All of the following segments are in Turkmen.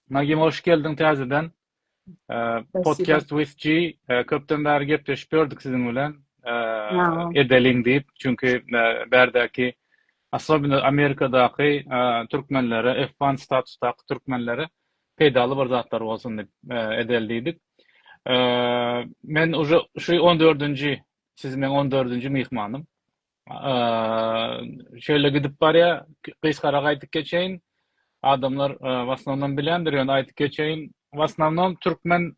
Nagim hoş geldiň täzeden. Podcast with G köpden bäri gepleşip gördük siziň bilen. Edeliň diýip, çünki bärdäki Aslobina Amerikadaky türkmenlere, F1 statusdaky türkmenlere peýdaly bir zatlar bolsun diýip edel diýdik. Men uje şu 14-nji, siz meň 14-nji myhmanym. Şeýle gidip barýar, gysgara gaýdyp geçeýin. Adamlar w asnownom bilýändir, ýöne aýdyp geçeýin. W asnownom türkmen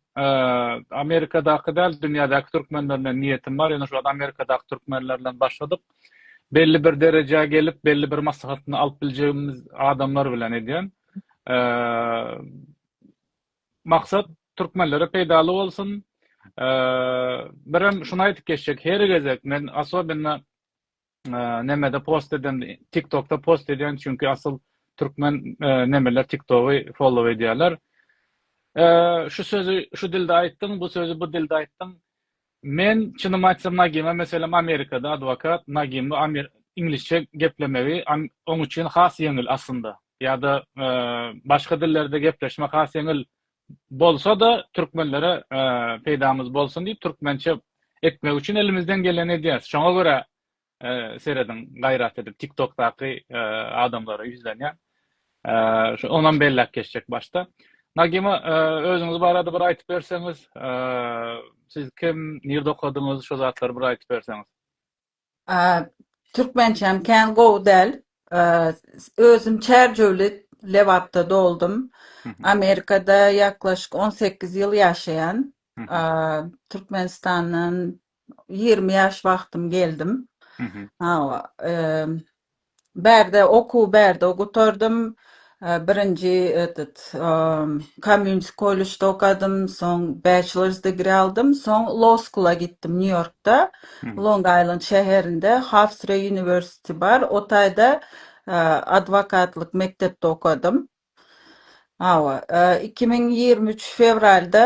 Amerikadaky däl, dünýädäki türkmenler bilen niýetim bar, ýöne şol Amerikadaky türkmenler bilen başladyk. Belli bir derejä gelip, belli bir maslahatyny alyp biljegimiz adamlar bilen edýän. Maksat türkmenlere peýdaly bolsun. Birem şuny aýdyp geçjek, her gezek men asobinna nemede post edende, tiktokda post edýän, çünki asyl türkmen nemeler tiktogy follow edýärler. Şu sözi şu dilde aýtdyň, bu sözi bu dilde aýtdyň. Men çynymy aýtsam Nagyma meselem Amerikada adwokat Nagymy iňlisçe geplemegi oň üçin has ýeňil aslynda ýa-da başga dillerde gepleşmek has ýeňil bolsada türkmenlere peýdamyz bolsun diýip türkmençe etmek üçin elimizden geleni edýäs şoňa görä Serediň gaýrat edip tiktokdaky adamlara ýüzlenýän. Şu onam belläp geçjek başda. Nagima özüňiz barada bir aýtyp berseňiz, siz kim, nirde okadyňyz, şu zatlary bir aýtyp berseňiz. Türkmençäm kän gowy däl. Özüm Çärjewli Lebapda doldum. Amerikada ýaklaşyk on sekiz ýyl ýaşaýan. Türkmenistandan Ýigrimi ýaş wagtym geldim. Hawa, bärde okuw bärde gutardym. Birinji etet Community College-de okadym, soň Bachelor's degree aldym, soň Law School-a gitdim Nýu-Ýorkda, Long Island şäherinde Hofstra University bar, o taýda adwokatlyk mekdepde okadym. Hawa, iki müň ýigrimi üç fewralda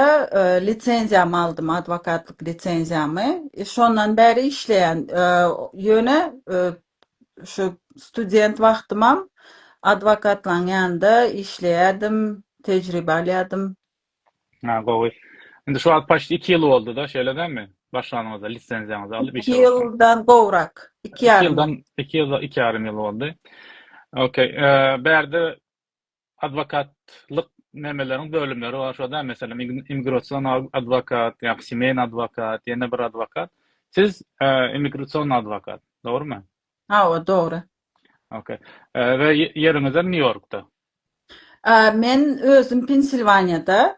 lisenziýamy aldym, adwokatlyk lisenziýamy. Şondan bäri işleýän. Ýöne şu student wagtymam adwokatlaň ýanynda işleýärdim, tejribe alýardym. Ha, gowy. Indi şu wagt paçt iki ýyl boldy-da, şeýle dälmi? Başlanyňyzda, lisenziýaňyzy alyp işe başlanyňyz. Iki ýyldan gowrak, iki ýarym. Iki ýyldan, iki ýyl, iki ýarym ýyl boldy. Okey. Bärde adwokatlyk nemeleriň bölümleri bar, şo dälmi? Meselem, immigrasion adwokat, ýa semeýny adwokat, ýene bir adwokat. Siz immigrasion adwokat, dogrumy? Hawa dogry. Ok. We ýeriňizem New Yorkda. Men özüm Pensilwaniýada.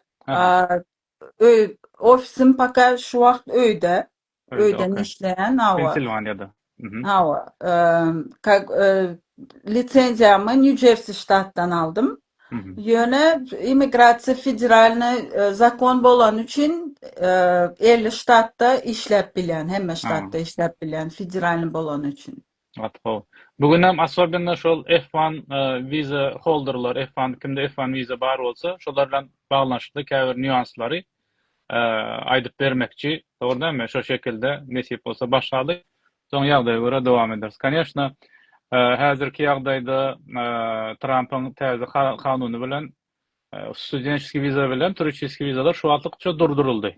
Öý ofisim poka şu wagt öýde. Öýden işleýän hawa. Pensilwaniýada. Hawa. Lisenziýamy Nýu Jersi ştatdan aldym. Ýöne immigrasiýa federalny zakon bolany üçin elli ştatda işläp bilýän, hemme ştatda işläp bilýän federalny bolany üçin. Ýatgow. Bu günem assobenno şol F one wiza holderler, F one kimde F one wiza bar bolsa, şolar bilen baglanyşykly käbir nýuanslary aýdyp bermekçi, dogry dälmi? Şo şekilde nesip bolsa başlalyk. Soň ýagdaýa görä dowam ederis. Koneşna, häzirki ýagdaýda Trampyň täze kanuny bilen studeniçeskiý wiza bilen turiçiskiý wizalar şu wagtlykça durduryldy.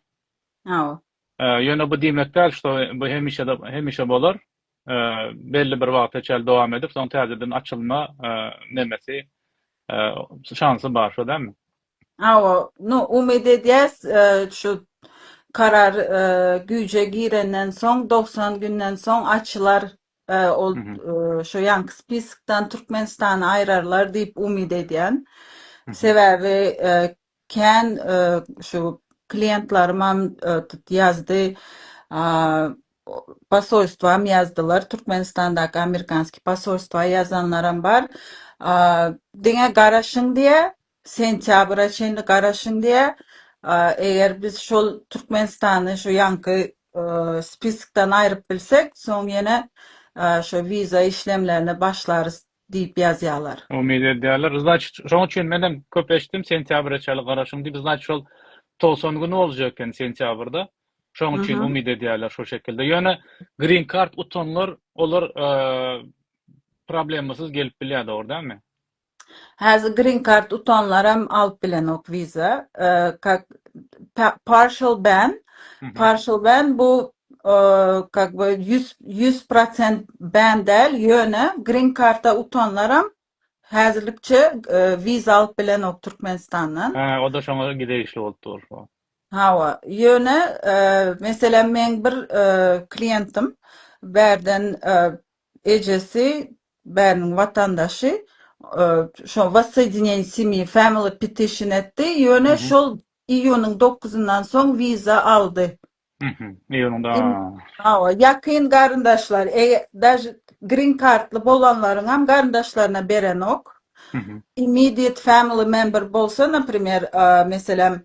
Hawa. Ýöne bu diýmek däl, şo bu hemişe hemişe bolar. Belli bir wagta çenli dowam edip, soň täzeden açylma nemesi, şansy bar, şo dälmi? Hawa, no umyt edýäs, e, şu karar e, güýje girenden soň dogsan günden soň açylar e, ol Mhm, e, şu ýanky spiskdan Türkmenistany aýrarlar diýip umyt edýän. mhm, Sebäbi e, kän e, şu kliýentlarymam e, tut ýazdy. A, o- Posolstwam ýazdylar. Türkmenistandaky amerikanskiý posolstwa ýazanlaram bar. A, Diňe garaşyň diýä, Sentýabra çenli garaşyň diýýär. Eger biz şol Türkmenistany şu ýaňky spiskdan aýryp bilsek, soň ýene şu wiza işlemlerini başlarys diýip ýazýarlar. Umyt edýärler. Znaçyt, şoň üçin menem köp eşitdim, sentýabra çenli garaşyň diýip, znaçyt şol togsan güni boljak eken sentýabrda. Şoň üçin umyt edýärler şo şekilde. Ýöne green card utanlar, olar problemasyz gelip bilýär, dogry dälmi? Häzir green card utanlaram alyp bilenok visa. Kak partial ban. Partial ban bu kak bu 100 100% ban däl, ýöne green card utanlaram häzirlikçe visa alyp bilenok Türkmenistandan. Hä, o-da şoňa degişli bolup dur. Hawa, ýöne meselem meň bir klientim bärden ejesi Bäriň watandaşy şo Wassodineniýe semýi family petition etdi, ýöne şol iýunyň dokuzyndan soň wiza aldy. Mhm. Iýunyň da. Hawa, ýakyn garyndaşlar, eger daže green kartly bolanlaryňam garyndaşlaryna berenok. Immediate family member bolsa, naprimer, meselem,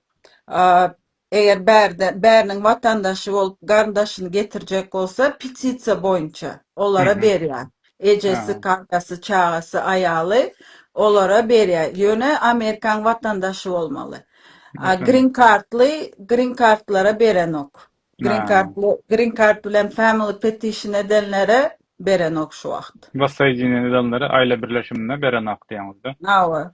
Eger bärde bäriniň watandaşy bolup garyndaşyny getirjek bolsa petisiýa boýunça olara Mhm. berýär. Ejesi, Haa. kakasy, çagasy, aýaly olara berýär. Ýöne Amerikaň watandaşy bolmaly. A Watan. green cardly green cardlara berenok. Green Haa. cardly green card bilen family petition edenlere berenok şu wagt. Wassoýdinýen edenlere aýla birleşimine berenok diýeňizda. Hawa.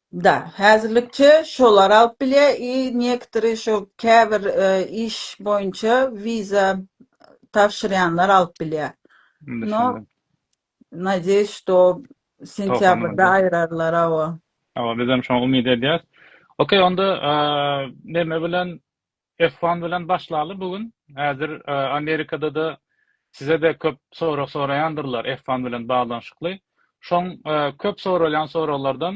Da, häzirlikçe şolar alyp bilýär i niektory şo käbir iş boýunça wiza tabşyrýanlar alyp bilýär. No, Düşündim. nadýeýs, şto sentýabrda aýrarlar, hawa. Hawa, bizem şoňa umyt edýäs. Okey, onda neme bilen Yslam bilen başlaly bu gün. Häzir Amerikada-da size-de köp sorag soraýandyrlar Yslam bilen baglanyşykly. Şoň köp soralýan soraglardan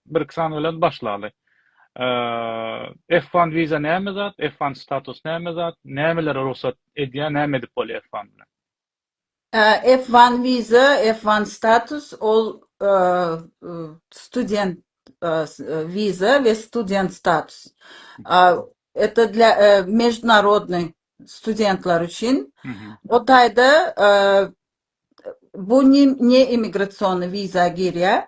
birki sany bilen başlaly. Yslam wiza näme zat? Yslam status näme zat? Nämelere rugsat edýär? Näme edip bolýar Yslam bilen? F one wiza, F one status, ol student wiza we student status. Eta dla mejdunarodnyý studentlar üçin. O taýda bu ne immigrasionnyý wiza girýär.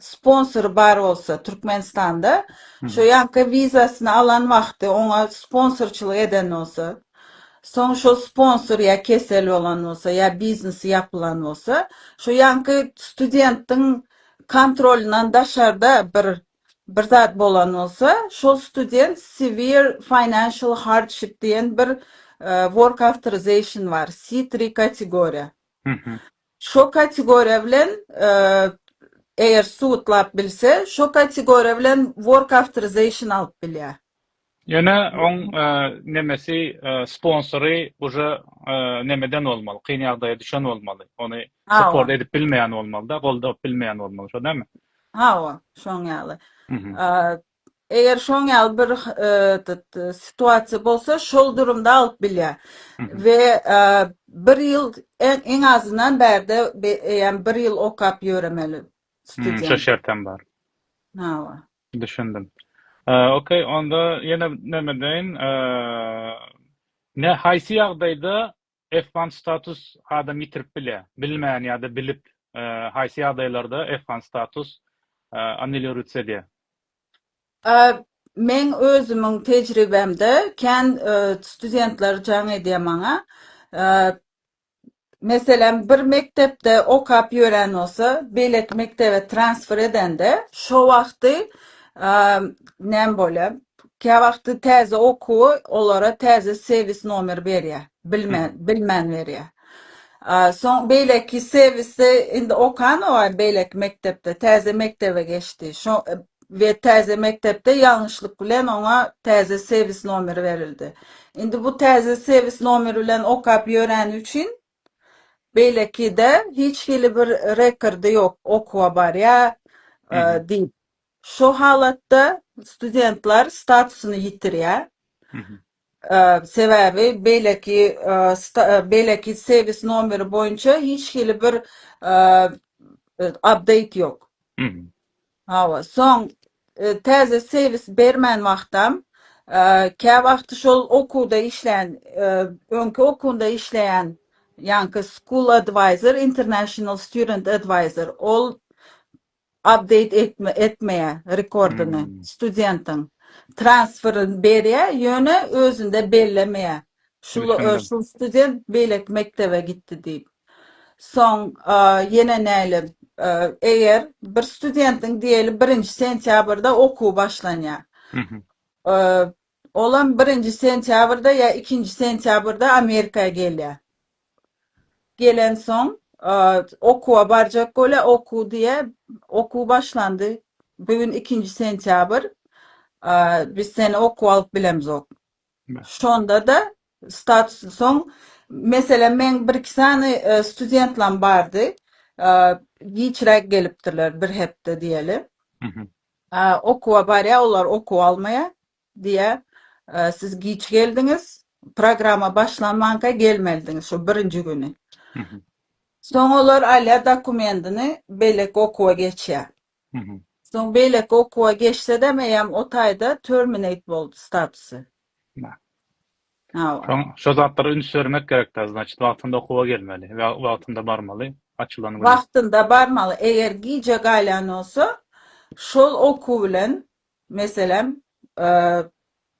sponsory bar bolsa Türkmenistanda şo ýanka wizasyny alan wagty oňa sponsorçylyk eden bolsa soň şo sponsor ýa kesel bolan bolsa ýa biznesi ýapylan bolsa şo ýanky studentiň kontrolyndan daşarda bir bir zat bolan bolsa şol student severe financial hardship diýen bir work authorization bar C three kategoriýa Şo kategoriýa bilen eger suwutlap bilse, şo kategoriýa bilen work authorization alyp bilýär. Ýöne oň nemesi sponsory uje nemeden bolmaly, kyn ýagdaýa düşen bolmaly, ony support edip bilmeýän bolmalyda, goldap bilmeýän bolmaly, şo dälmi? Hawa, şoň ýaly. Eger şoň ýaly bir situasiýa bolsa, şol durumda alyp bilýär. We bir ýyl iň azyndan bärde eýýäm bir ýyl okap ýöremeli student. Şo şert hem bar. Hawa. Düşündim. Okey, onda ýene näme deýin? Nä haýsy ýagdaýda F-one status adam ýitirip bilýär. Bilmän ýa-da bilip haýsy ýagdaýlarda F-one status annulirutse edýär? Meň özümiň tejribemde kän studentler jaň edýär maňa. Meselem, bir mekdepde okap ýören bolsa, beýleki mekdebe transfer edende, şo wagty näme bolýar? Käwagty täze okuwy olara täze sewis nomer berýär. Bilmän, bilmän berýär. Soň beýleki sewisi indi okanok-aý beýleki mekdepde, täze mekdebe geçdi. Şo we täze mekdepde ýalňyşlyk bilen oňa täze sewis nomeri berildi. Indi bu täze sewis nomeri bilen okap ýöräni üçin Beýlekide hiç hili bir rekordy ýok, okuwa barýa diýip. Şu halatda studentler statusyny ýitirýä. Sebäbi beýleki beýleki sebis nomeri boýunça hiç hili bir update ýok. Hawa, soň täze serwis bermän wagtam, käwagty şol okuwda işleýän, öňki okuwynda işleýän ýaňky School Advisor, International Student Advisor, ol update etmeýär rekordyny, studentiň transferini berýär, ýöne özünde bellemeýär. Şul şul student beýleki mekdebe gitdi diýip. Soň ýene näle eger bir studentiň diýeli birinji sentýabrda okuw başlanýar. Olam birinji sentýabrda ýa ikinji sentýabrda Amerika gelýär. Gelen soň okuwa barjak bolýar, okuw diýe okuw başlandy. Bugün ikinji sentýabr. Biz seni okuw alyp bilemzok. Şonda-da statusy soň, meselem, meň bir-iki sany studentlam bardy, giçräk gelipdirler, bir hepde diýeli. Okuwa barýar, olar okuw almaýar. Diýýär, Siz giç geldiňiz, programma başlanmanka gelmelidiňiz şol birinji güni. Soň olar alýar dokumentini, beýleki okuwa geçýär. Soň beýleki okuwa geçsedem eýýäm o taýda terminate boldy statusy. Soň şo zatlara üns bermek gerekda znaçit wagtynda okuwa gelmeli we wagtynda barmaly açylan güni. Wagtynda barmaly eger gijä gaýlan bolsa şol okuw bilen Meselem,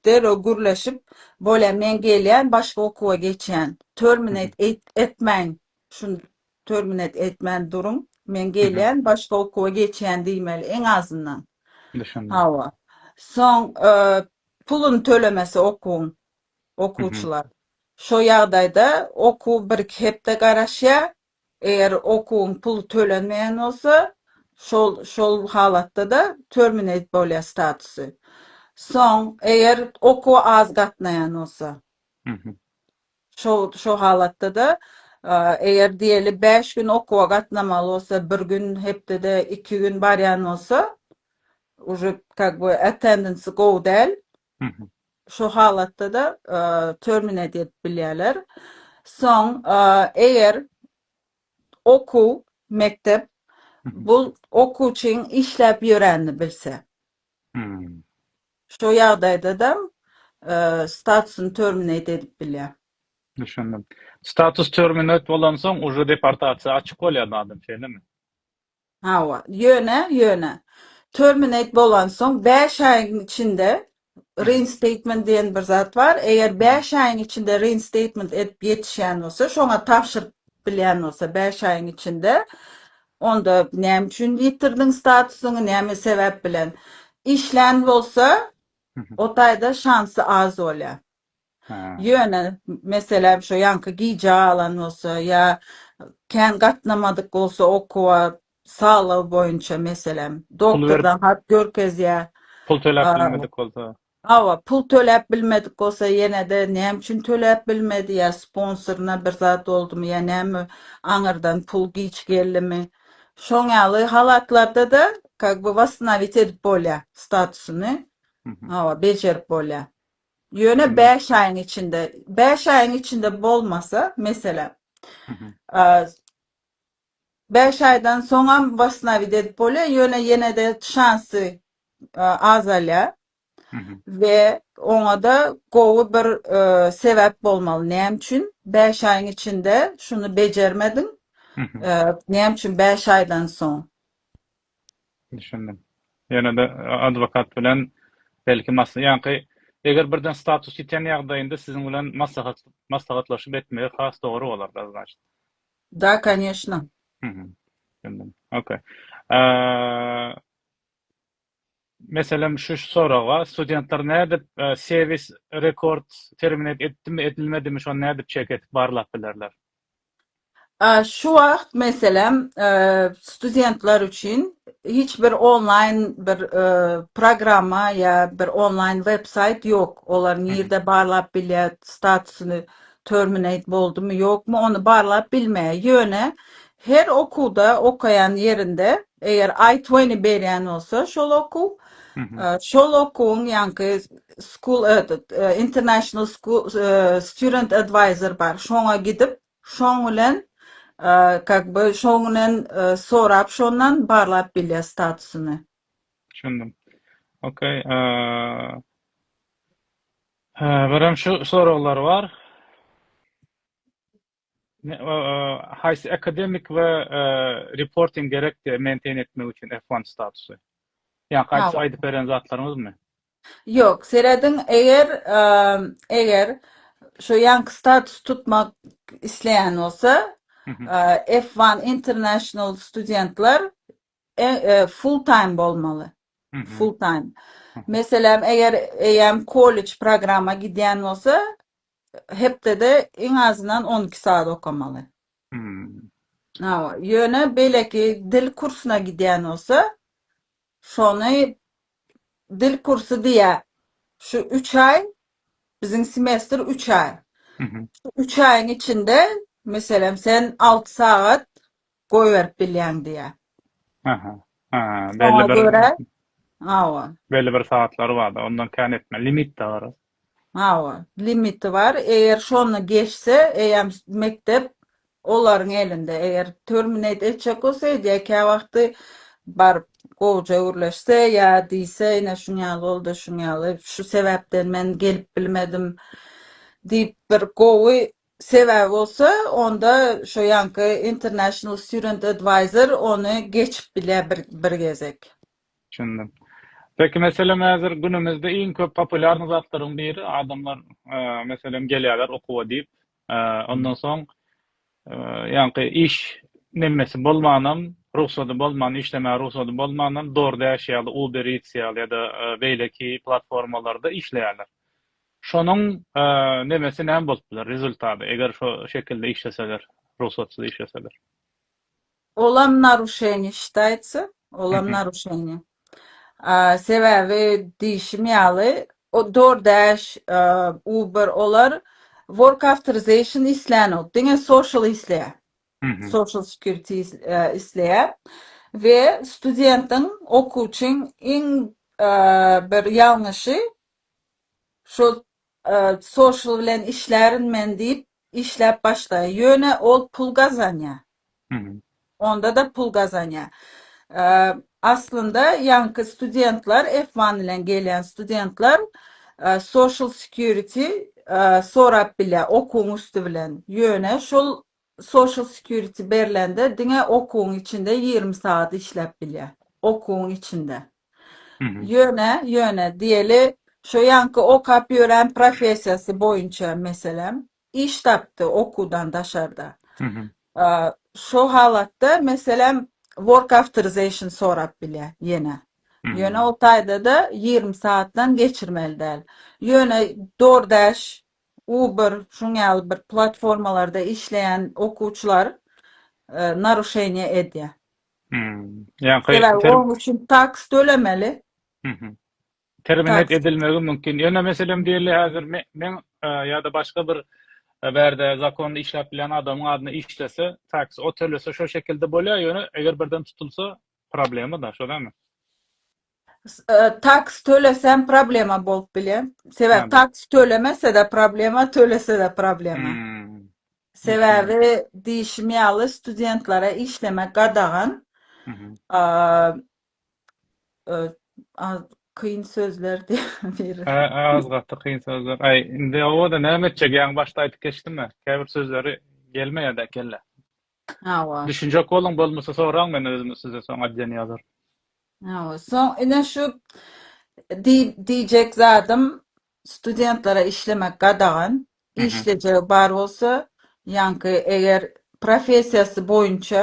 derrew gürleşip, Bolýa, men gelýän, başga okuwa geçýän. Terminate etmäň. Şuny terminate etmän duruň. Men gelýän, başga okuwa geçýän diýmeli, iň azyndan. Düşündim. Hawa. Soň puluny tölemese okuwyň okuwçylar. Şo ýagdaýda okuw bir-iki hepde garaşýar, Eger okuwyň puly tölenmeýän bolsa, şol şol halatda-da terminate bolýar statusy. Soň, eger okuwa az gatnaýan bolsa. Şo şo halatda-da, eger diýeli bäş gün okuwa gatnamaly bolsa, bir gün hepdede iki gün barýan bolsa, uje kak bu attendance gowy däl, Şo halatda-da terminate edip bilýärler. Soň eger okuw, mekdep bu okuwçyň işläp ýöränini bilse. Şo ýagdaýda-da statusyny terminate edip bilýär. Düşündim. Status terminate bolansoň uje deportasiýa açyk bolýar adam, şeýlemi? Hawa, ýöne, ýöne, terminate bolansoň bäş aýyň içinde reinstatement diýen bir zat bar, eger bäş aýyň içinde reinstatement edip ýetişýän bolsa, şoňa tabşyryp bilýän bolsa bäş aýyň içinde, onda näme üçin ýitirdiň statusyňy, näme sebäp bilen işlän bolsa, o taýda şansy az bolýar. Ýöne, meselem, şo ýaňky gijä galan bolsa ýa kän gatnamadyk bolsa okuwa, saglygy boýunça, meselem, doktordan hat görkezýä. Pul töläp bilmedik bolsa. Hawa, pul töläp bilmedik bolsa, ýene-de näme üçin töläp bilmedi, ýa sponsoryna bir zat boldumy, ýa näme, aňyrdan pul giç geldimi. Şoň ýaly halatlarda-da kak by wostonawit edip bolýa statusyny. Hawa, bejerip bolýa. Ýöne bäş aýyň içinde, bäş aýyň içinde bolmasa, meselem, bäş aýdan soňam wasnawit edip bolýar, ýöne ýene-de şansy azalýar we oňa-da gowy bir sebäp bolmaly. Näme üçin bäş aýyň içinde şuny bejermediň? Näme üçin bäş aýdan soň? Düşündim. Ýöne-de adwokat bilen belki mas-, ýaňky eger birden status ýiten ýagdaýynda siziň bilen maslahat, maslahatlaşyp etmegi has dogry bolar-da znaçt. Da, kanyeshno. Hum. Düşündim. Ok. Aaa, meselem şu soraga studentler nädip sevis rekord terminate etdimi, edilmedimi şony nädip çek edip barlap bilerler? Şu wagt, meselem, studentler üçin hiç bir onlaýn bir programma ýa bir onlaýn websaýt ýok. Olar nirde barlap bilýär, statusyny terminate boldumy, ýokmy, ony barlap bilmeýär. Ýöne her okuwda, okaýan ýerinde Eger iTwenty berýän bolsa şol okuw, şol okuwyň ýaňky school этот international school student advisor bar, şoňa gidip, şoň bilen kak by şoň bilen sorap şondan barlap bilýär statusyny. Düşündim. Okey. Birem şu soraglar bar. Haýsy akademik we reporting gerekdi maintain etmek üçin F one statusy? Ýa gaýta aýdyp beren zatlaryňyzmy? Ýok, serediň eger eger şu ýanky status tutmak isleýän bolsa F one international studentler Full time bolmaly. Full time. Meselem, eger eýäm kollej programa gidýän bolsa, hepdede iň azyndan on iki sagat okamaly. Hawa, ýöne beýleki dil kursuna gidýän bolsa, şony dil kursy diýýä, şu üç aý, biziň semestr üç aý. Üç aýyň içinde, meselem, sen alty sagat goýberip bilýäň diýýär. Aha. Ha, belli Şoňa bir görä, hawa. belli bir sagatlary bar-da, ondan kän etme. Limit-de bar. Hawa, limiti bar. Eger şony geçse, eýýäm s- mekdep olaryň elinde. Eger terminate etjek bolsa, edýär. Kä wagty baryp gowja gürleşse ýa diýse, ine şuň ýaly boldy, şuň ýaly, şu sebäpden men gelip bilmedim diýip, bir gowy Sebäbi bolsa onda şo ýanky International Student Advisor ony geçip bilýär bir bir gezek. Düşündim. Peki meselem häzir günümizde iň köp populýarny zatlaryň biri adamlar meselem gelýärler okuwa diýip ondan soň ýanky iş nemesi bolmanam rugsady bolman işlemäge rugsady bolmanam DoorDash ýaly Uber Eats ýaly ýa-da beýleki platformalarda işleýärler. Şonuň nemesi näme bolup biler, rezultady, eger şo şekilde işleseler, rugsatsyz işleseler? Olam naruşeniýa şitaýtsa, olam naruşeniýa. Sebäbi diýişim ýaly, o DoorDash, Uber olar work authorization islänok, diňe social isleýär. Social security isleýär we studentiň, okuwçyň iň bir ýalňyşy Şu social bilen işlärin men diýip, işläp başlaýar. Ýöne ol pul gazanýar. Onda-da pul gazanýar. Aslynda ýaňky studentler, F one bilen gelýän studentler social security sorap bilýär okuwyň üsti bilen. Ýöne şol Social security berlende diňe okuwyň içinde ýigrimi sagat işläp bilýä. Okuwyň içinde. Ýöne, ýöne diýeli şo ýaňky okap ýören professiýasy boýunça meselem iş tapdy okuwdan daşarda. Şo halatda meselem work authorization sorap bilýä ýene. Ýöne o taýda-da ýigrimi sagatdan geçirmeli däl. Ýöne DoorDash Uber şuň ýaly bir platformalarda işleýän okuwçylar naruşeniýe edýär. Sebäbi onuň üçin taks tölemeli. Terminate edilmegi mümkin. Ýöne meselem diýeli häzir men ýa-da başga bir bärde zakonda işläp bilýän adamyň adyna işlese, taks o tölese şo şekilde bolýar, ýöne eger birden tutulsa problema-da, şo dälmi? Taks tölesem problema bolup bile. Sebäbi taks tölemese-de problema, tölese-de problema. Sebäbi diýişim ýaly studentlere işlemek gadagan. Kyn sözler diýip. Az gaty kyn sözler. Aý, indi oba-da näme etjek? Ýaňy başda aýdyp geçdim-ä. Käbir sözleri gelmeýär-dä kellä. Hawa. Düşünjek boluň bolmasa soraň men özüm size soň adýen ýazaryn. Hawa. Soň ine şu diýjek zadym studentlere işlemek gadagan. Işlejegi bar bolsa ýaňky eger professiýasy boýunça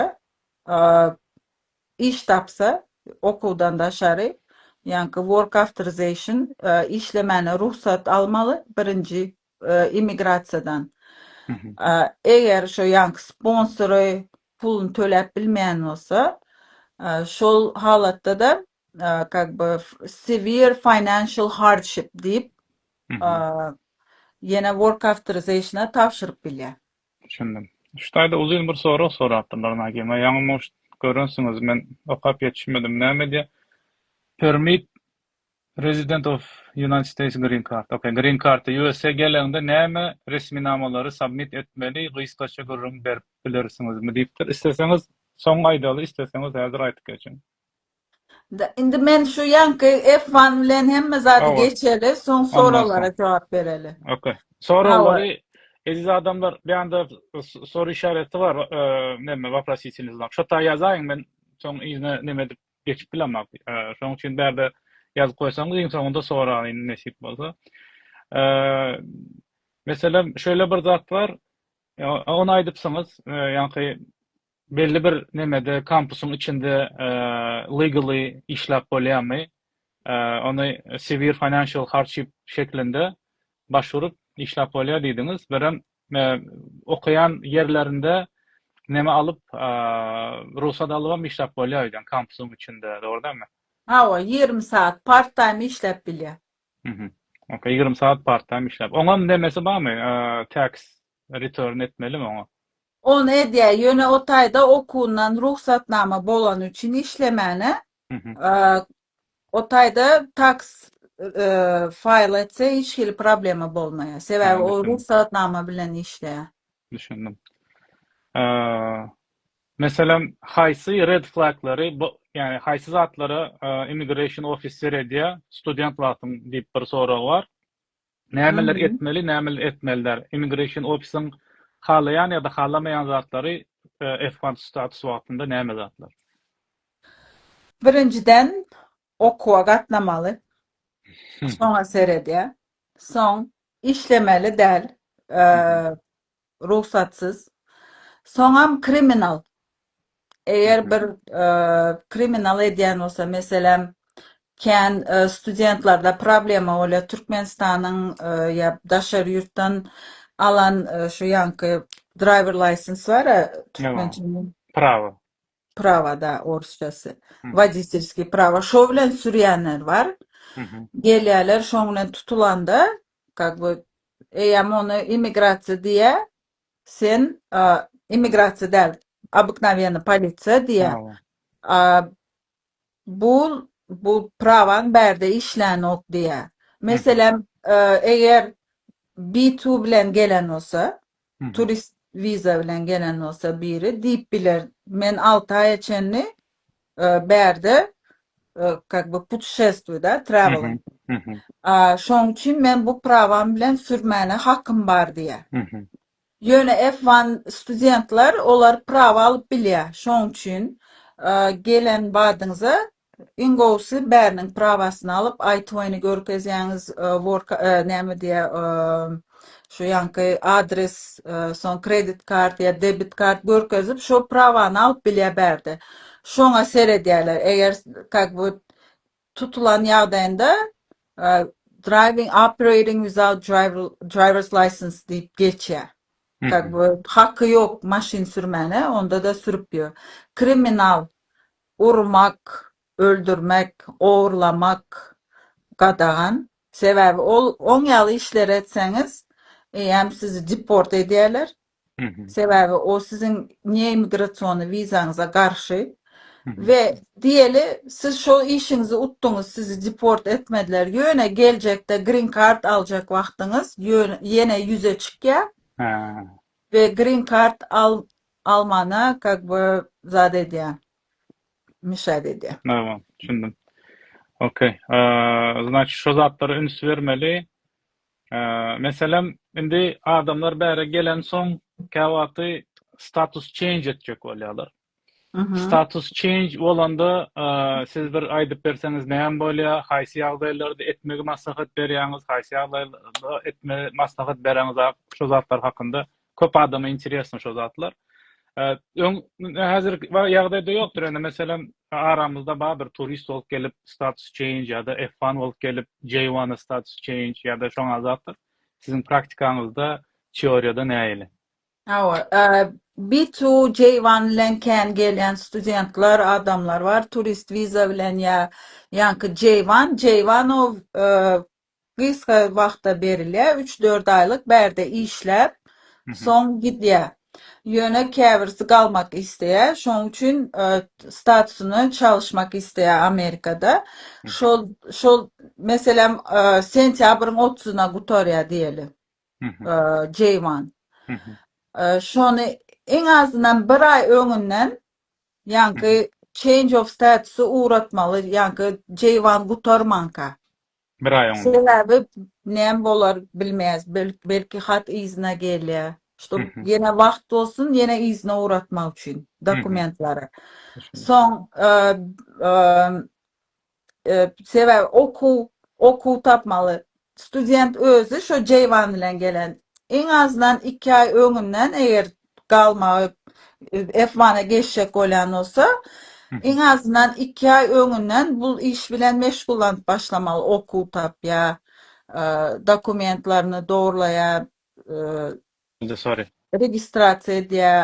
iş tapsa okuwdan daşary ýaňky work authorization işlemäne rugsat almaly birinji immigrasiýadan eger şo ýanky sponsory puluny töläp bilmeýän bolsa şol halatda-da kak by severe financial hardship diýip ýene work authorization-a tabşyryp bilýär. Düşündim. Şu taýda uzyn bir sorag sorapdyrlar Nagima. Ýaňy mugt görensiňiz men okap ýetişmedim. Näme diýýär? Permit Resident of United States Green Card, ok, Green Card, USA geleňde näme resminamalary submit etmeli, gysgaça gürrüň berip bilersiňizmi diýipdir. Isleseňiz soň aýdaly, isleseňiz häzir aýdyp geçiň. Da, indi men şu ýaňky F one bilen hemme zady Hawa. geçeli, soň Ondan soň. soraglara jogap bereli. Ok. Soraglary, eziz adamlar, bu ýanda soru işareti bar, neme, wopros ýeçilmesi, şo taýy ýazaýyň, men soň yzyna neme edip, geçip bilemok. Şonuň üçin bärde ýazyp goýsaňyz iň soňunda soraýyn nesip bolsa. Meselem şeýle bir zat bar. Ony aýdypsyňyz, ýaňky belli bir nemede kampusyň içinde legally işläp bolýarmy? Ony severe financial hardship şeklinde başwurup işläp bolýar diýdiňiz. Birem Okaýan ýerlerinde neme alyp rugsat alybam işläp bolýar öýden kampusyň içinde dogry dälmi? Hawa ýigrimi saat part time işläp bilýär. Mhm. Ok ýigrimi saat part time işläp. Oňam nemesi barmy tax return etmelimi oňa? Ony edýär ýöne o taýda okuwyndan rugsatnama bolany üçin işlemäne O taýda tax faýl etse hiç hili problema bolmaýar. Sebäbi o rugsatnama bilen işleýär. Düşündim. Meselem, haýsy red flaglary, ýagny haýsy zatlara immigration office seredýär student wagtyň diýip bir sorag bar. Nämeler etmeli, nämeler etmeli däl? Immigration ofisyň halaýan ýa-da halamaýan zatlary F-one status wagtynda näme zatlar? Birinjiden, okuwa gatnamaly. Şoňa seredýär. Soň, işlemeli däl. rugsatsyz soňam kriminal eger bir kriminal edýän bolsa meselem kän studentlarda problema bolýar türkmenistanyň ýa daşary ýurtdan alan şu ýaňky driver license bar a türkmençe prawa prawa da orsçasy woditelskiý prawa şo bilen sürýänler bar gelýärler şoň bilen tutulanda kak by eýýäm ony immigrasiýa diýýä sen immigrasiýa däl obyknawýenny polisiýa diýýä a bu bu prawaň bärde işlänok diýýä meselem eger bitu bilen gelen bolsa turist wiza bilen gelen bolsa biri diýip biler men alty aýa çenli bärde kak by putuşestwi da traveling şoň üçin men bu prawam bilen sürmäne hakym bar diýä ýöne f one studentler olar prawa alyp bilýä şoň üçin gelen badyňyza Iň gowusy bäriniň prawasyny alyp aýt oýny görkezýäňiz work näme diýýä şu ýanky adres soň kredit kart ýa debit kart görkezip şo prawany alyp bilýä bärde şoňa seredýäler eger kak bu tutulan ýagdaýynda driving operating without drivers license diýip geçýä kak bu haky ýok maşyn sürmäne onda da sürüp ýör kriminal Urmak, öldürmek, ogurlamak gadagan. Sebäbi ol oň ýaly işleri etseňiz, eýýäm sizi deport edýärler. Sebäbi o siziň neimigrasiony wizaňyza garşy. We diýeli, siz şol işiňizi utduňyz, sizi deport etmediler, ýöne geljekde green card aljak wagtyňyz ýöne ýene ýüze çykýar. We green card Almana kak by zat edýä mishad edýä. Nawa düşündim. Okey. Znaçy şo zatlara üns bermeli. Meselem indi adamlar bäre gelen soň käwagty status change etjek bolýalar. Status change bolanda siz bir aýdyp berseňiz näme bolýa, haýsy ýagdaýlarda etmegi maslahat berýäňiz, haýsy ýagdaýlarda etmegi maslahat bereňiz ak şo zatlar hakynda Köp adama interesno şo zatlar. Öň häzir ýagdaýda ýokdur. Ene meselem aramyzda bar bir turist bolup gelip status change ýa-da F1 bolup gelip J1 status change ýa-da şoňa zatlar. Siziň praktikaňyzda teoriýada nähili? Hawa, B2 J1 bilen kän gelýän studentler, adamlar bar. Turist wiza bilen ýa ýaňky J1, J1 o gysga wagta berilýär, üç-dört aýlyk bärde işläp, soň gidýär. Ýöne käbirisi galmak isleýär, şonuň üçin statusyny çalyşmak isleýär Amerikada. Şol, şol, meselem, sentýabryň otuzyna gutarýar diýeli, J-one. Şony iň azyndan bir aý öňünden, ýaňky change of status-y ugratmaly, ýaňky J-one gutarmanka. Bir aý oňa. Sebäbi näme bolar bilmeýäs. Belki hat yzyna gelýär. Ştob ýene wagt bolsun, ýene yzyna ugratmak üçin dokumentlary. Soň sebäbi okuw, okuw tapmaly. Student özi şo jeýwan bilen gelen. Iň azyndan iki aý öňünden eger galmagy F-one-a geçjek bolýan bolsa, iň azyndan iki aý öňünden bu iş bilen meşgullanyp başlamaly, okuw tapýa, dokumentlerini dogurlaýa, registrasiýa edýä,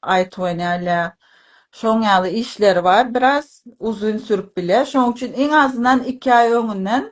aýtywynýa, şoň ýaly işleri bar, biraz uzyn sürüp bilýär. Şoň üçin iň azyndan iki aý öňünden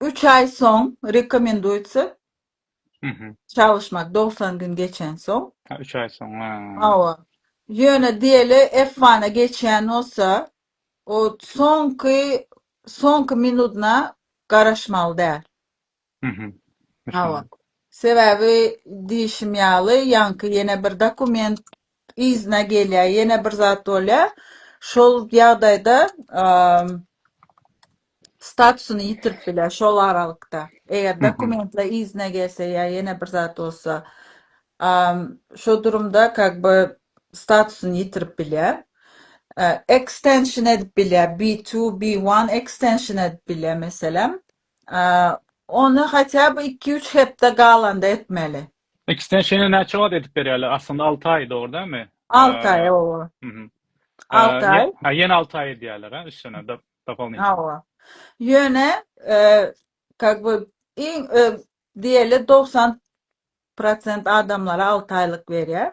Üç aý soň rekomenduýsa Mhm. çalyşmak, dogsan gün geçensoň. Ha, üç aý soň, ha. Hawa. Ýöne diýeli F one-a geçýän bolsa, o soňky soňky minudyna garaşmaly däl. Mhm. Hawa. Düşündim. Sebäbi diýşim ýaly, ýaňky ýene bir dokument yzyna gelýär, ýene bir zat bolýar. Şol ýagdaýda statusyny ýitirip biler şol aralykda. Eger dokumentler yzyna gelse ýa ýene bir zat bolsa, şo durumda как бы statusyny ýitirip bilýär. Extension edip bilýär, B2, B1 extension edip bilýär meselem. Ony hatýa bir iki-üç hepde galanda etmeli. Ekstensiýany näçe wagt edip berýärler? Aslynda alty aý dogry dälmi? Alty aý oba. Alty aý. Ha ýene alty aý edýärler ha üstüne dopollnitno. Hawa. Ýöne как бы iň diýeli dogsan prosent adamlara alty aýlyk berýär.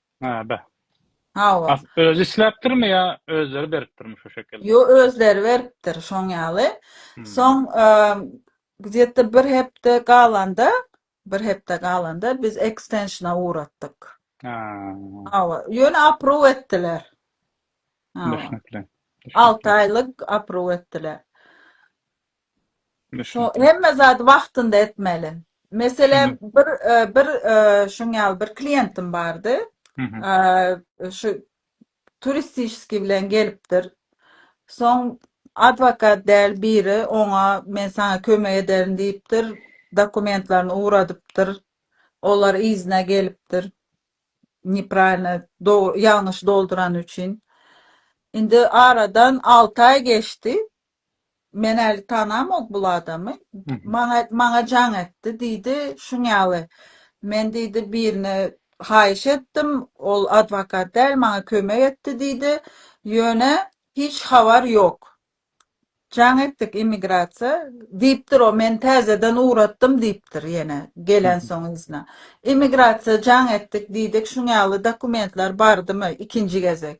Hä be. Hawa. As özi isläpdirmi ýa özleri beripdirmi şu şekil? Ýo özleri beripdir şoň ýaly. Hmm. Soň gzette bir hepde galanda, bir hepde galanda biz ekstensiona uratdyk. Ha. Hawa, ýöne apruw etdiler. Hawa. Düşnükli. 6 aýlyk apruw etdiler. Şo hemme zady wagtynda etmeli. Meselem bir bir şuň ýaly bir kliýentim bardy. Şu turistişski bilen gelipdir. Soň adwokat däl biri oňa men saňa kömek ederin diýipdir. Dokumentlerini ugradypdyr. Olar yzyna gelipdir. Nepralno ýalňyş doldurany üçin. Indi aradan alty aý geçdi. Men äli tanamok bul adamy. Maňa maňa jaň etdi diýdi. Şuň ýaly. Men diýdi birine haýyş etdim. Ol adwokat däl maňa kömek etdi diýdi. Ýöne hiç habar ýok. Jaň etdik immigrasiýa. Diýipdir o men täzeden ugratdym diýipdir ýene gelensoň yzyna. Immigrasiýa jaň etdik diýdik şuň ýaly dokumentler bardymy ikinji gezek.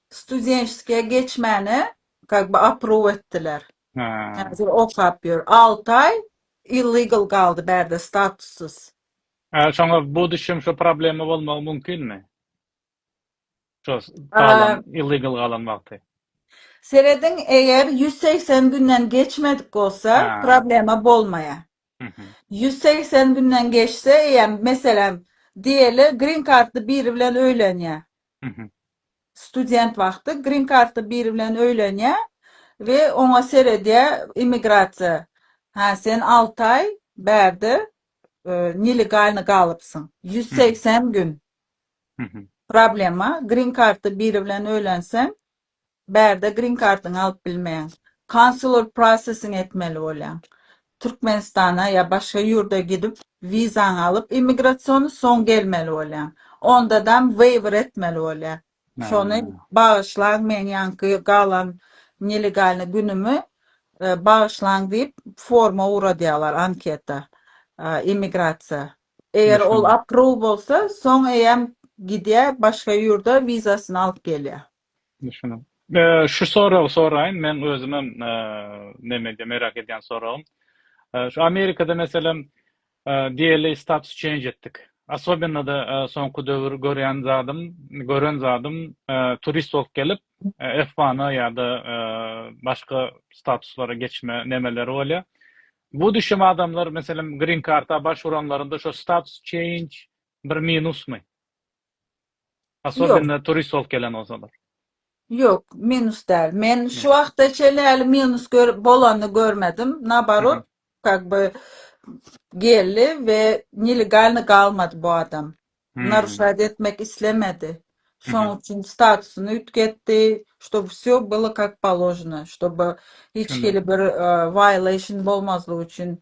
Studentskiýa geçmäne как бы approve etdiler. Hä. Häzir okap ýör. Alty aý illegal galdy bärde statussyz. Hä şoňa bu düşem şo problema bolmagy mümkinmi? Şo galan illegal galan wagty. Serediň eger ýüz segsen günden geçmedik bolsa problema bolmaýar. Ýüz segsen günden geçse eýem meselem diýeli green kartly biri bilen öýlenýär. Student wagty green kartly biri bilen öýlenýä we oňa seredýä immigrasiýa. Hä sen alty aý bärde nelegalny galypsyň. Ýüz segsen gün. Problema green kartly biri bilen öýlenseň Bärde green kardyňy alyp bilmeýäň. Consular processing etmeli bolýaň. Türkmenistana ýa başga ýurda gidip wizaňy alyp immigrasiony soň gelmeli bolýaň. Ondadam waiver etmeli bolýar. Şony bagyşlaň meň ýaňky galan nelegalny günümi bagyşlaň diýip forma ugradýarlar anketa immigrasiýa. Eger ol approve bolsa soň eýýäm gidýär başga ýurda wizasyny alyp gelýär. Düşündim. Şu soragy soraýyn, men özümem neme edýän, merak edýän soragym. Şu Amerikada meselem DLA status change etdik. Asobynada soňky döwür görýän zadym, gören zadym turist bolup gelip F-one-a ýa-da başga statuslara geçme nemeleri bolýar. Bu düşem adamlar meselem green card-a başwuranlarynda şu status change bir minusmy? Asobinno turist bolup gelen bolsalar. Ýok, minus däl. Men şu wagta çenli häli minus gör bolanyny görmedim. Naborot, kak by geldi we nelegalny galmady bu adam. Naruşat etmek islemedi. Şoň üçin statusyny üýtgetdi, ştob wsýo byly kak položno, ştob hiç hili bir violation bolmazlygy üçin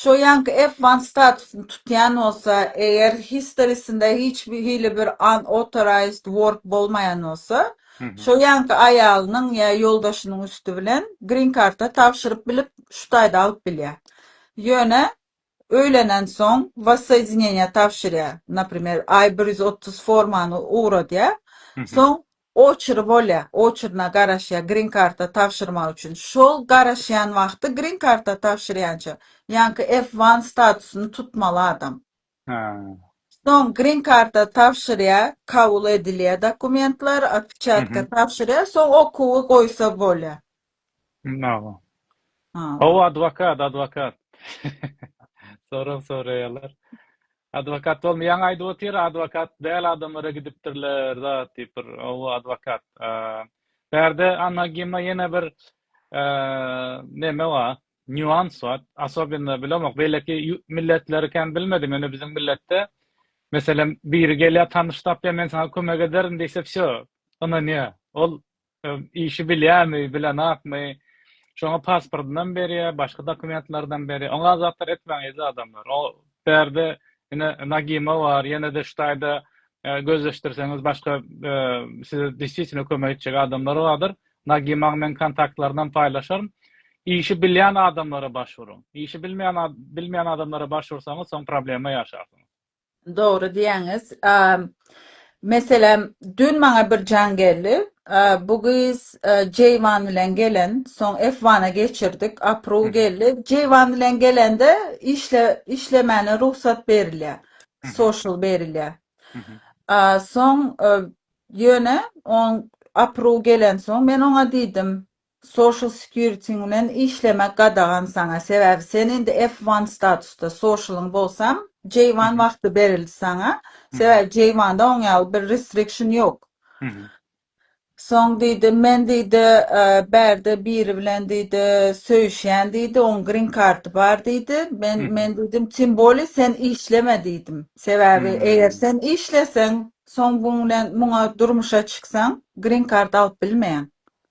Şo ýanky F one statusyny tutýan bolsa, eger history-sinde hiç hili bir unauthorized work bolmaýan bolsa, şo ýanky aýalynyň ýa ýoldaşynyň üsti bilen green card-a tabşyryp bilip, şu taýda alyp bilýär. Ýöne öýlenensoň wassoýedineniýä tabşyrýar, naprimer, I bir ýüz otuz formany ugradýar, soň Oçry bolýa, oçryna garaşýa grin karta tabşyrmak üçin. Şol garaşýan wagty grin karta tabşyrýança, ýaňky F one statusyny tutmaly adam. Hä. Soň grin karta tabşyrýa, kabul edilýä dokumentler, otpečatka tabşyrýa, soň okuwy goýsa bolýa. Naga. Hawa adwokat, adwokat. Sorag soraýarlar. Adwokat bolmaýan aýdyp otyr, adwokat däl adamlara gidipdirler zat diýip bir hawa adwokat. Bärde Anna Gimma ýene bir neme bar, nýuans bar. Asobinda bilemok, beýleki milletleri kän bilmedim, ýöne biziň milletde meselem biri gelýär tanyş tapýar men saňa kömek ederin diýse wsýo ynanýar. Ol Işi bilýärmi, bilenokmy, şoňa pasportynam berýär, başga dokumentlerinem berýär. Oňa zatlar etmägeýdi adamlar. O bärde ine Nagima bar, ýene-de şu taýda gözleşdirseňiz başga size desisýtne kömek etjek adamlar bardyr. Nagimaň men kontaktlarynam paýlaşaryn. Işi bilýän adamlara baş uruň. Işi bilmeýän bilmeýän adamlara baş ursaňyz, soň problema ýaşarsyňyz. Dogry diýýäňiz. Meselem, dün maňa bir jaň geldi. Bu gyz Jeýwan bilen gelen, soň F-wana geçirdik, Apruu geldi. Jeýwan bilen gelende işle işlemäne rugsat berilýä, social berilýä. Soň ýöne oň Apruu gelensoň men oňa diýdim, Social security ň bilen işlemek gadagan saňa sebäbi sen indi F one statusda socialyň bolsaň J one wagty berildi saňa sebäbi J one da oň ýaly bir restriction ýok soň diýdi men diýdi bärde biri bilen diýdi söýüşýän diýdi oň green karty bar diýdi men men diýdim tym bolýa sen işleme diýdim sebäbi eger sen işleseň soň buň bilen muňa durmuşa çyksaň green karty alyp bilmeýäň.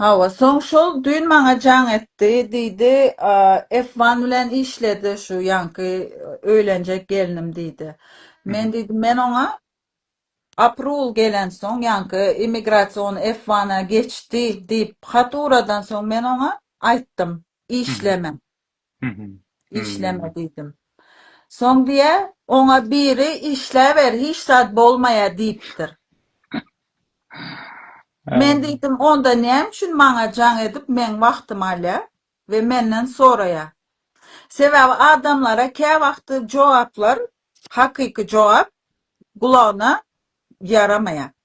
Hawa, soň şol düýn maňa jaň etdi, diýdi, F one bilen işledi şu ýaňky öýlenjek gelnim, diýdi. Men diýdim, men oňa aprul gelensoň, ýaňky immigrasion F one-a geçdi diýip hat uradansoň men oňa aýtdym, işleme. Işleme diýdim. Soň diýýär, oňa biri işläber, hiç zat bolmaýar diýipdir. Men diýdim, onda näme üçin maňa jaň edip meň wagtymy alýar we menden soraýar? Sebäbi adamlara käwagty jogaplar, hakyky jogap gulagyna ýaramaýar.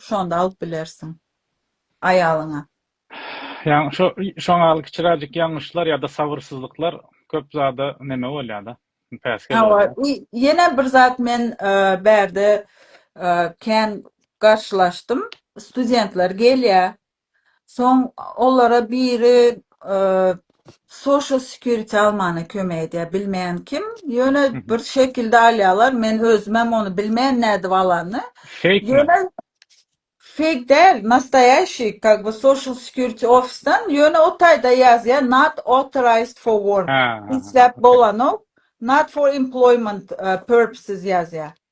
Şonda alyp bilersiň aýalyňa. Ýaňy şo şoň al kiçiräjik ýalňyşlar ýa-da sabyrsyzlyklar köp zada neme bolýa-da, päsgel Hawa, bolýa. i ýene bir zat men bärde kän garşylaşdym. Studentler gelýä, Soň olara biri social security almana kömek edýär, bilmeýän kim, ýöne bir şekilde alýarlar, men özümem ony bilmeýän nädip alanyny. Fake mi? Fake däl, nastoýaşiý, как бы social security ofisden, ýöne o taýda ýazýar not authorized for work, işläp bolanok, not for employment purposes ýazýar.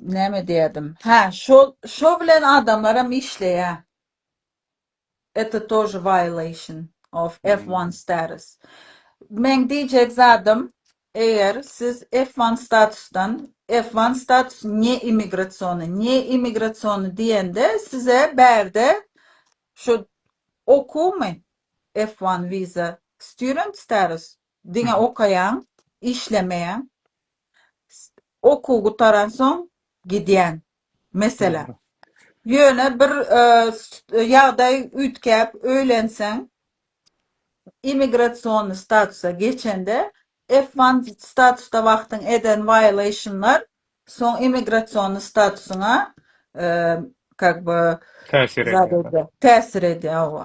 Näme diýerdim? Hä, şo şo bilen adamlar hem işleýä. Eto тоже violation of F one Hmm. status. Meň diýjek zadym, eger siz F one statusdan, F one status ne immigrasiony, ne immigrasiony diýende size bärde şo okuwmy F one visa student status Diňe okaýaň, işlemeýäň. Okuw gutaransoň gidýän. Meselem. Ýöne bir ýagdaý üýtgäp öýlenseň, immigrasionnyý statusa geçende, F one statusda wagtyň eden violationlar soň immigrasionnyý statusyňa kak by täsir edýär. Täsir edýär owa.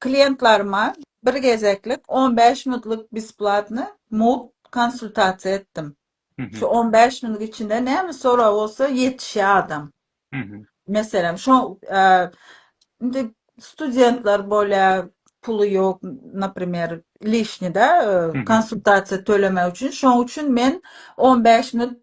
klientlaryma bir gezeklik on bäş minutlyk besplatny mugt konsultasiýa etdim. Şu on bäş minut içinde näme sorag bolsa ýetişýär adam. Meselem, şo indi studentler bolýar, puly ýok, naprimer, lişnida konsultasiýa tölemek üçin. Şoň üçin men on bäş minut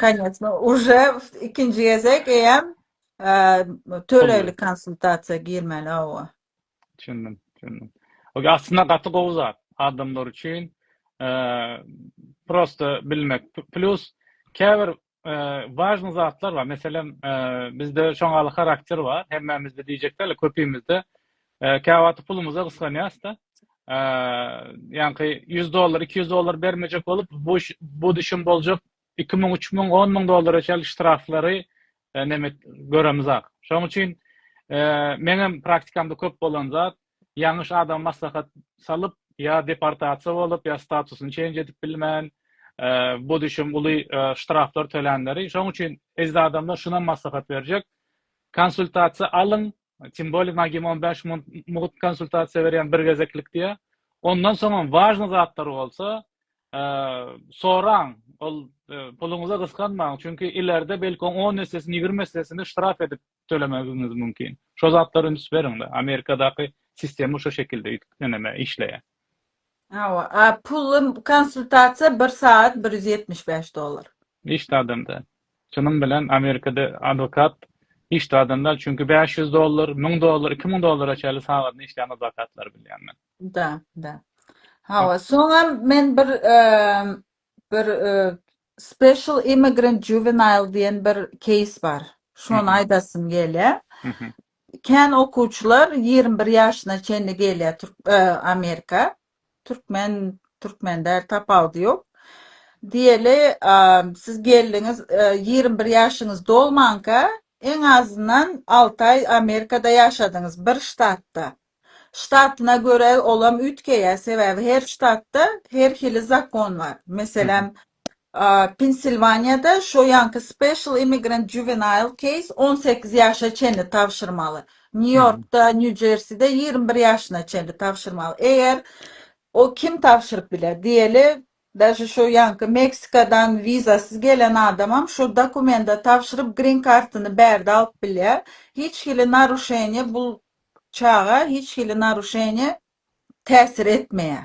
Kanyýetli uje ikinji gezek eýem eee, Pully. tölegli konsultasiýa girmeli hawa. Düşündim, düşündim. Oke, aslynda gaty gowy zat adamlar üçin. Eee, prosta bilmek. P- Plus käbir eee, wažny zatlar bar. Meselem, eee, bizde şoňaly harakter bar. Hemmämizde diýjek däl, köpimizde Käwagty pulumyza gysganýas-da. Ýaňky ýüz dollar, iki ýüz dollar bermejek bolup, bu bu düşüm boljak iki müň, üç müň, on müň dollara çenli ştraflary neme göremizak. Şonuň üçin meňem praktikamda köp bolan zat, ýalňyş adama maslahat salyp, ýa deportasiýa bolup, ýa statusyny çenj edip bilmän, bu düşüm uly ştraflar tölänleri. Şonuň üçin eziz adamlar şunam maslahat berjek. Konsultasiýa alyň, Simbolik Nagim on bäş mugt konsultasiýa berýän bir gezeklik diýýä. Ondan soňam wažny zatlar bolsa, soraň, ol puluňyza gysganmaň, çünki ilerde belki oň on essesini, ýigrimi essesini ştraf edip tölemegiňiz mümkin. Şo zatlara üns beriňda. Amerikadaky sistema şo şekilde ýene-me işleýä. Hawa, a pully konsultasiýa bir sagat bir ýüz ýetmiş bäş dollar. Hiç zadam däl. Şunuň bilen Amerikada adwokat hiç zadam däl, çünki bäş ýüz dollar, müň dollar, iki müň dollara çenli sagadyna işleýän adwokatlary bilýän men. Da, da. Hawa, soňam men bir bir special immigrant juvenile diýen bir keýs bar. Şony aýdasym gelýär. Kän okuwçylar ýigrimi bir ýaşyna çenli gelýär Amerika. Türkmen Türkmen däl tapawudy ýok. Diýeli siz geldiňiz ýigrimi bir ýaşyňyz dolmanka eň azyndan alty aý Amerikada ýaşadyňyz bir ştatda. Ştatyna görä olam üýtgeýär sebäbi her ştatda her hili zakon bar. Meselem Pensilwaniýada şo ýanky Special Immigrant Juvenile Case on sekiz ýaşa çenli tabşyrmaly. Nýu-Ýorkda, Nýu-Jerside ýigrimi bir ýaşyna çenli tabşyrmaly. Eger o kim tabşyryp biler? Diýeli, daže şo ýanky Meksikadan wizasyz gelen adamam şo dokumenta tabşyryp Green Card-yny bärde alyp bilýär. Hiç hili naruşeniýe bul çaga hiç hili naruşeniýe täsir etmeýär.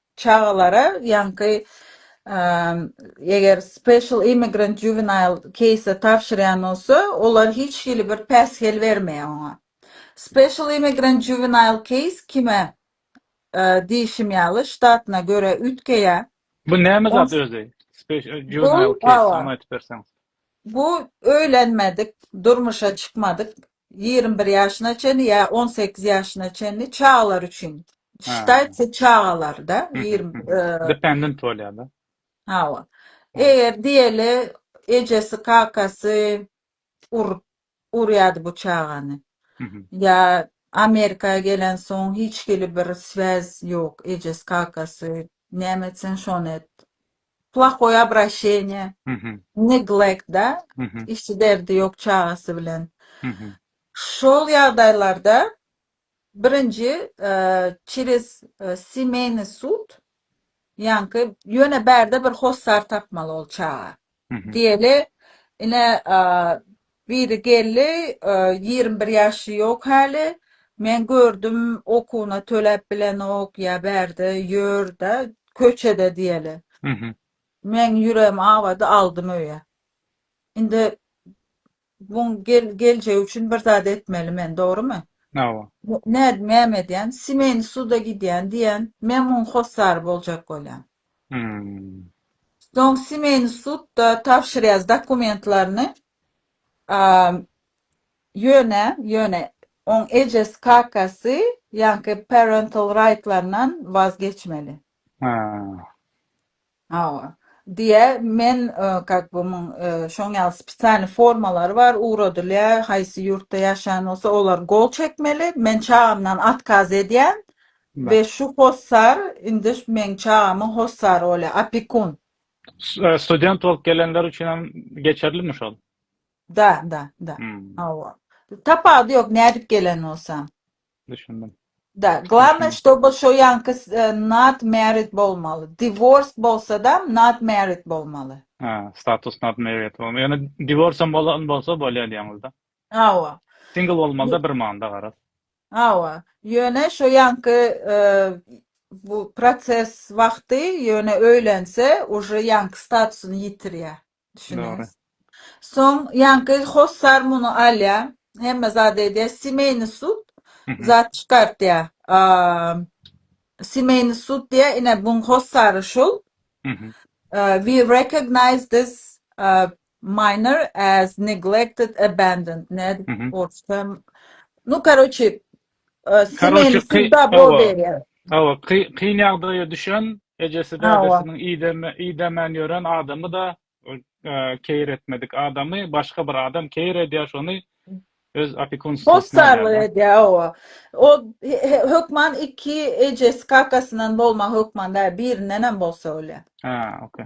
Çagalara ýaňky eger special immigrant juvenile case tabşyrýan bolsa, olar hiç hili bir päsgel bermeýär oňa. Special immigrant juvenile case kime diýişim ýaly ştatyna görä üýtgeýär. Bu näme zat özi? Special juvenile case şony aýdyp berseňiz. Bu öýlenmedik, durmuşa çykmadyk ýigrimi bir ýaşyna çenli ýa on sekiz ýaşyna çenli çagalar üçin ştaýtse çagalarda dependent bolýada hawa eger diýeli ejesi kakasy urup urýady bu çagany ýa amerika gelen soň hiç hili bir swez ýok ejesi kakasy näme etseň şony et Plahoý abraşeniýe, neglekt da, işçi derdi ýok çagasy bilen. Şol ýagdaýlarda birinji çerez semeýny sud, ýaňky ýöne bärde bir hossar tapmaly ol çaga. Diýeli, ine Biri geldi, ýigrimi bir ýaşy ýok häli, men gördüm, okuwyna töläp bilenok, ýa bärde ýör-de, köçede diýeli. Meň ýüregim awady, aldym öýe. Indi buň geljegi üçin bir zat etmeli men, dogrumy? Hawa. Nädip, näme edýän? Semýany suda gidýän diýen, men muň hossary boljak bolýan. Hmm. Soň semeni sudda tabşyrýas dokumentlaryny. Am, ýöne, ýöne oň ejesi, kakasy, ýaňky parental rightlaryndan waz geçmeli. Ha. Hawa. Diýe, men kak bu muň şoň ýaly spesialny formalary bar, ugradylýa, haýsy ýurtda ýaşaýan bolsa olar gol çekmeli, men çagamdan atkaz edýän. Be şu hossar indi meň çagamyň hossary bolýa opekun. Student bolup gelenler üçin hem geçerlimi şol? Da da da hawa tapawudy ýok nädip gelen bolsaň. Düşündim. Da glavnoý ştoby şo ýanky not married bolmaly divorced bolsadam not married bolmaly. Hä status not married bolmaly ýöne divorce hem bolan bolsa bolýa diýeňizda. Hawa. Single bolmalyda bir manda garaz. Hawa. Ýöne şo ýanky bu proses wagty ýöne öýlense uje ýanky statusyny ýitirýä. Düşüniňiz. Soň ýanky hossar muny alýa. Hemme zat edýä. Semeýni sud zat çykartýa. Semeýni sud diýä ine buň hossary şul. We recognize this Minor as neglected abandoned nädip Mhm. orsça nu karoçi Karoçi kyn owa owa kyn ýagdaýa düşen ejesi dädesiniň ideme idemän ýören adamy da keýir etmedik adamy başga bir adam keýir edýär şony öz opikunstwasynda Hossarlyk edýär owa o hökman iki ejesi kakasyndan bolmagy hökman däl birinden hem bolsa bolýar. Ha okey.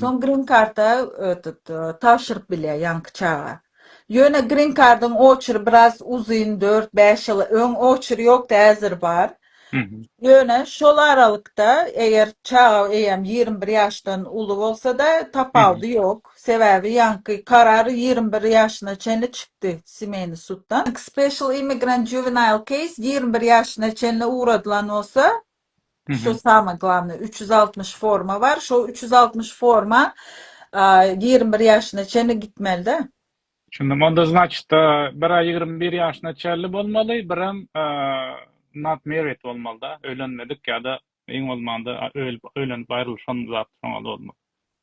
Soň grin karta tabşyryp bilýär ýaňky çaga. Ýöne grin kardyň oçury biraz uzyn, dört, bäş ýyl öň oçury ýokdy, häzir bar. Ýöne şol aralykda eger çaga eýýäm ýigrimi bir ýaşdan uly bolsa-da, tapawudy ýok. Sebäbi ýaňky karar ýigrimi bir ýaşyna çenli çykdy Semeýny suddan. Special Immigrant Juvenile Case ýigrimi bir ýaşyna çenli ugradylan bolsa, Şo samyý glavnyý üç ýüz altmyş forma bar şo üç ýüz altmyş forma ýigrimi bir ýaşyna çenli gitmelidä. Düşündim onda znaçyt bira ýigrimi bir ýaşyna çenli bolmaly birem not married bolmalyda öýlenmedik ýada iň bolmanda ölüp öýlenip aýrylyşan zat şoňada bolmaly.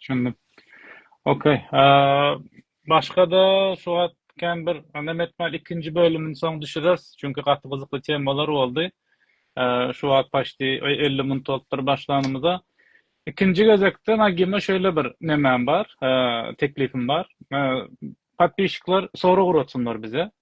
Düşündim. Ok. Başga-da şu wagt kän bir nem etmän ikinji bölümini soň düşüreris. Çünki gaty gyzykly temalar boldy. Şu wagt paşti elli minut bolupdyr başlanymyza. Ikinji gezekde Nagime şeýle bir nemem bar, teklipim bar. Podpişikler sorag uratsynlar bize.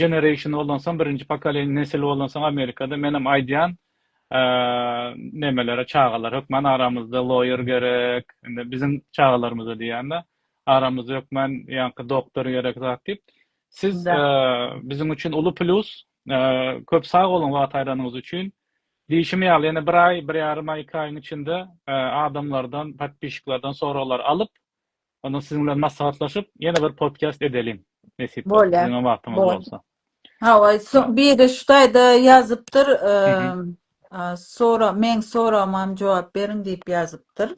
Generation bolonsoň birinji pokoleniýa nesil bolonsoň amerikada menem aýdýan nemelere çagalar hökman aramyzda loýer gerek indi biziň çagalarymyza diýýanda aramyzda hökman ýaňky doktor gerek zat diýip siz biziň üçin uly plýus köp sag boluň wagt aýranyňyz üçin diýşim ýaly ýene bir aý bir ýarym aý iki aýyň içinde adamlardan podpişiklerden soraglar alyp Onda siziň bilen maslahatlaşyp, ýene bir podkast edeliň, nesip bolsa, siziň hem wagtyňyz bolsa. Hawa, biri şu taýda ýazypdyr, meň soragma hem jogap beriň diýip ýazypdyr.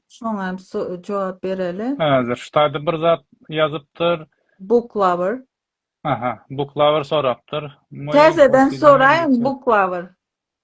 Şoňa hem jogap bereli. Häzir şu taýda bir zat ýazypdyr. Book lover. Aha, book lover sorapdyr. Täzeden soraýyň, book lover.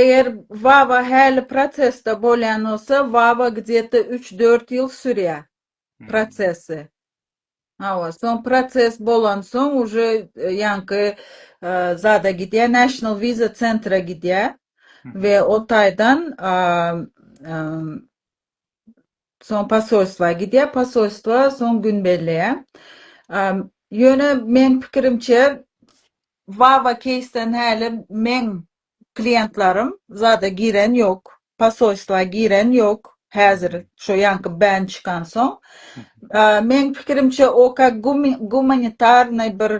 Eger VAWA häli prosesde bolýan bolsa, VAWA gdýeta üç-dört ýyl sürýär prosesi. Hawa, soň proses bolansoň uje ýaňky zada gidýär, National Visa Center-a gidýär we o taýdan Soň posolstwa gidýär, posolstwa soň gün belleýär. Ýöne meň pikirimçe, Wawa keýsden häli meň kliýentlarim zada giren ýok, posolstwa giren ýok, häzir şo ýaňky bän çykansoň. Meň pikirimçe, o ka gumanitarnyý bir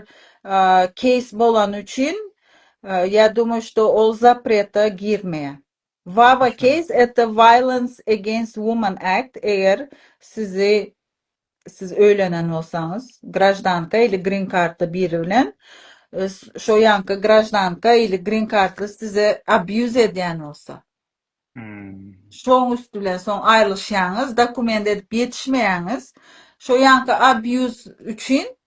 keýs bolany üçin, ýa dumaýşda ol zapreta girmeýär. Vava case at the Violence Against Woman Act eger sizi siz öýlenen bolsaňyz graždanka ili green kartly biri bilen şo ýanky graždanka ili green kartly size abýuz edýän bolsa şoň üsti bilen soň aýrylyşýaňyz dokument edip ýetişmeýäňiz şo ýanky abýuz üçin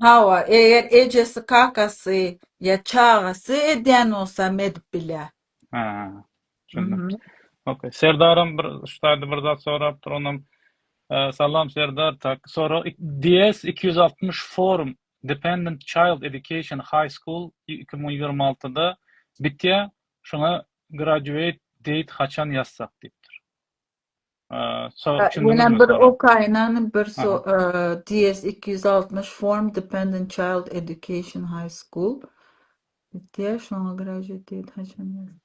Hawa, eger ejesi, kakasy ýa çagasy edýän bolsa hem edip bilýär. Ha, düşündim. Mhm. Ok. Serdaram bir şu taýda bir zat sorapdyr, onam Salam Serdar, tak, sorag DS iki ýüz altmyş forum Dependent Child Education High School iki müň ýigrimi altyda bitýär, şuňa graduate date haçan ýazsak diýipdir. Ýene bir okaýynan bir DS iki ýüz altmyş form dependent child education high school diýýär şoňa graduate date haçan ýazdy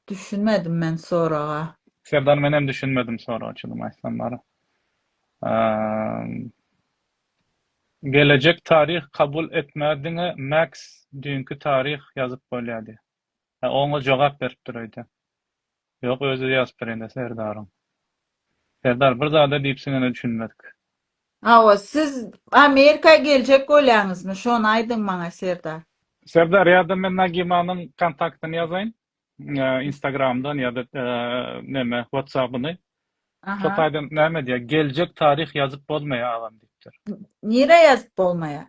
düşünmedim men soraga. Serdar menem düşünmedim soraga çydym aýtsam bara. Gelejek taryh kabul etmär diňe max düýnki taryh ýazyp bolýa diýýär. Hä, oňa jogap beripdir öýdýän. Ýok, özi ýazypdyr ýene Serdaryň. Serdar bir zada diýipsiňene düşünmedik. Hawa, siz Amerika geljek bolýaňyzmy, şony aýdyň maňa, Serdar. Serdar, ýa-da men Nagimanyň kontaktyny ýazaýyn, Instagramdan ýa-da neme, WhatsApp-yny. Şo taýdan näme diýýär, geljek taryh ýazyp bolmaýar agam diýipdir. Nirä ýazyp bolmaýar?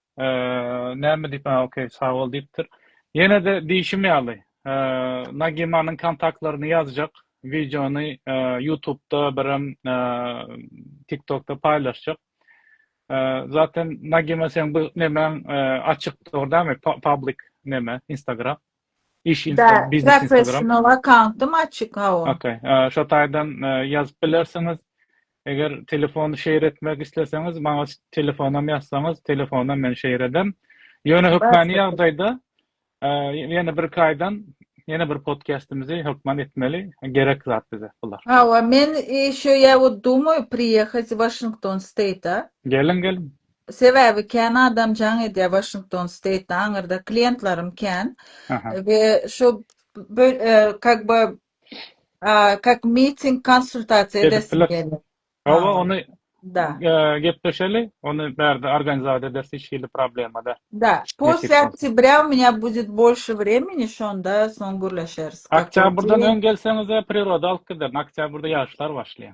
Näme diýip, ha, okey, sag bol diýipdir. Ýene-de diýşim ýaly, Nagimanyň kontaktlaryny ýazjak, wideony Ýutubda birem Tiktokda paýlaşjak. Zaten Nagima seň bu nemäň açykdyr dämi, public neme, Instagram? Iş Instagram, biznes Instagram. Professional akkauntym açyk hawa. Okay. Şo taýdan ýazyp bilersiňiz. Eger telefon şeýr etmek isleseňiz, maňa telefonam ýazsaňyz, telefonam men şeýr edem. Ýöne hökmany ýagdaýda ýene bir kaýdan ýene bir podcastimizi hökman etmeli. Gerek zat bize bular. Hawa, men şu ýa dumy priýehat Washington State-a. Geliň, geliň. Sebäbi kän adam jaň edýär Washington State-de aňyrda kliýentlerim kän we şu kak by kak meeting konsultasiýa edesim gelýär. Hawa ony gepleşeli ony bärde organizat ederis hiç hili problema däl. Da posle oktýabrýa u menya budýet bolşe vremeni şonda soň gürleşeris. Oktýabrdan öň gelseňizä priroda alyp giderin oktýabrda ýagyşlar başlaýar.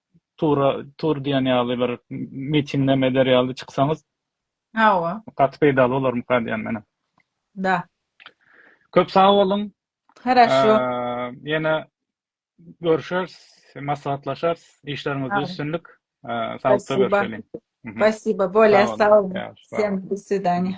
tura tur diýen ýaly bir mitingneme eder ýaly çyksaňyz. Hawa. Gaty peýdaly bolarmyka diýýän menem. Da. Köp sag boluň. Haraşo. Ýene görüşeris, maslahatlaşarys. Işleriňizde üstünlik. Saglyk görüşeliň. Spasiba. Bolýa sag boluň. Sen do swidaňýa.